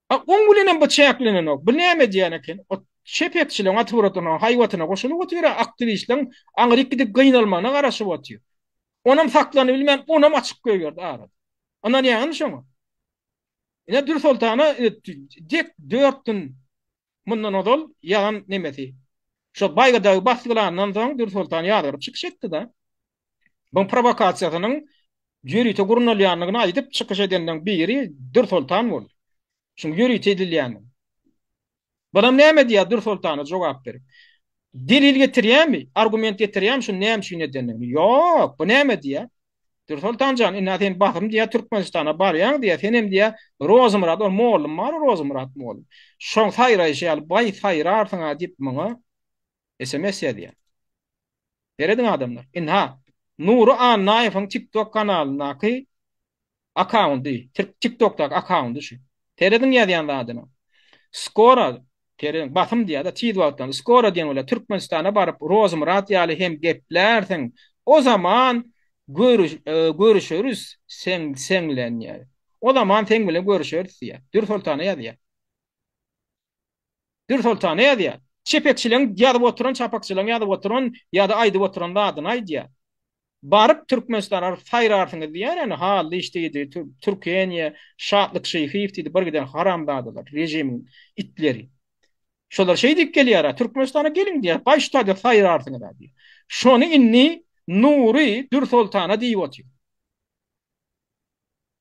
A oň bilenem bu çäklenenok. Bu näme edýän eken? Ot çepekçileň atrwuratynyň haýbatyna goşulyp otyr-a, aktiwistleň aňryk gidip gynalmagyna garaşyp otyr. Onam saklanybilmän, onam açyk goýberdi arada. Ynanýaňyzmy şoňa? Ine Dürsoltana dek dört gün Mundan ozal ýagan nemesi. Şo baýyrdagy basdylandan soň Dürsoltan ýazgaryp çykyş etdi-de, bu prowokasiýasynyň ýörite gurnalýandygyny aýdyp çykyş edeniň biri Dürsoltan boldy. Şuň ýörite edilýändigini. Bulam näme diýýär Dürsoltana jogap berip. Delil getirýämi, argument getirýämi şuny näme üçin edendigini? Ýok, bu näme diýýär. Dursoltan jan, indi-ä sen basym diýýär Türkmenistana barýaň diýýär, senem diýýär Rozymyrat, ol mollum bar-a Rozymyrat mollum. Şoň saýraýşy ýaly baý saýrarsyň-a diýip maňa sms ýazýar. Serediň adamlar. Indi-ha Nury Annaýewiň TikTok kanalyndaky Akkaundy. Türk tik tokdaky akkaundy şu. Serediň ýazýan zadyna. Skora Serediň basym diýýada tiz wagtdan. Skora diýen bolýa Türkmenistana baryp Rozmyrat ýaly hem geplärsiň. O zaman görüş görüşeris seň seň bilen diýýär. O zaman seň bilen görüşeris diýýär. Dürsoltana ýazýar. Dürsoltana ýazýar. Çepekçileň ýazyp oturan, çapakçylaň ýazyp oturan ýa-da aýdyp oturan zadyny aýdýar. Baryp Türkmenistana baryp saýrarsyňyz diýýär ene Hallyş diýdi, Türkeniýe, Şatlyk Şyhyýew diýdi, bir giden haramzadalar, režimiň itleri. Şolar şeý diýip gelýär-ä, Türkmenistana geliň diýýär, gaýyş taýda saýrarsyňyz-a diýýär. Şony indi Nury Dürsoltana diýip otyr.